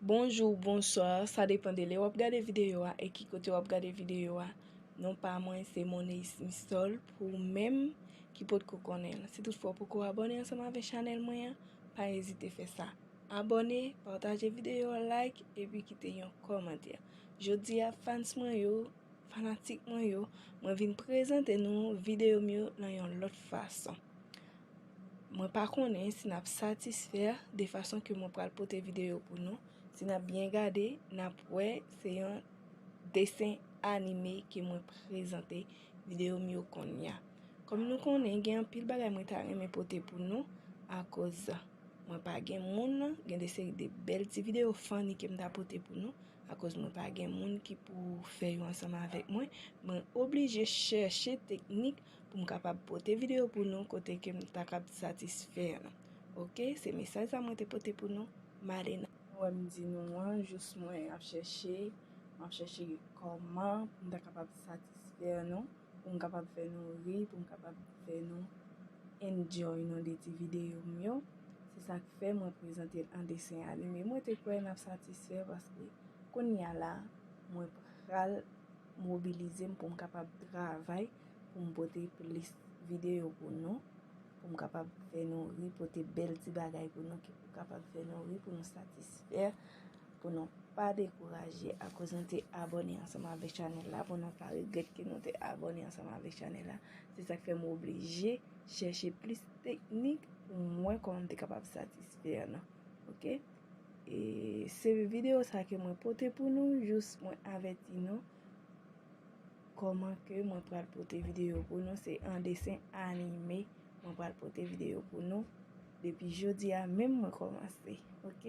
Bonjou ou bonswa, sa depan de lè wap gade videyo a e ki kote wap gade videyo a. Non pa mwen se Moneys Mistol pou ou menm ki pot ko konnen. Si tout fwa ou poko abone ansan m avè chanèl mwen an, pa ezite fè sa. Abone, pataje videyo a, like, epi kite yon komantè. Jodi a fans mwen yo. Fanatik mwen yo, mwen vin prezante nou videyo m yo nan yon lòt fason. Mwen pa konnen si nap satisfè de fason ke mwen pral pote videyo pou nou. Si nap byen gade, nap wè se yon desen anime ke mwen prezante videyo m yo konnya. Kòm nou konnen gen anpil bagay mwen ta renmen pote pou nou, akoz mwen pa gen moun, gen de seri de bèl ti videyo funny ke m ta pote pou nou. Akoz mwen pa gen moun ki pou fè yo ansanm avèk mwen, mwen oblije chèche teknik pou m kapab pote videyo pou nou kote ke m ta kab satisfè nou. Ok, se mesaj sa mwen te pote pou nou. Malena. Nou wè m di nou an, jous mwen ap chèche, m ap chèche kòman pou m ta kapab satisfè nou. pou m kapab fè nou ri, pou m kapab fè nou enjoy nou de ti videyo m yo. Se sa k fè mwen prezante l an desen anime. Mwen te kwè n ap satisfè paske kounye a la, mwen pral mobilize m pou m kapab travay pou m pote plis videyo pou nou, pou m kapab fè nou ri, pote bèl ti bagay pou nou ki pou kapab fè nou ri, pou nou satisfè. Pou nou pa dekouraje akoz nou te abone ansanm avèk chanèl la, pou nou pa regrèt ke nou te abone ansanm avèk chanèl la, se sak fè m oblije chèche plis teknik pou mwen kòman m te kapab satisfè nou. Ok, e se videyo sa ke mwen pote pou nou, jous mwen avèti nou kòman ke mwen pral pote videyo pou nou, se an desen anime mwen pral pote videyo pou nou, depi jodi a menm mwen kòmanse. Ok.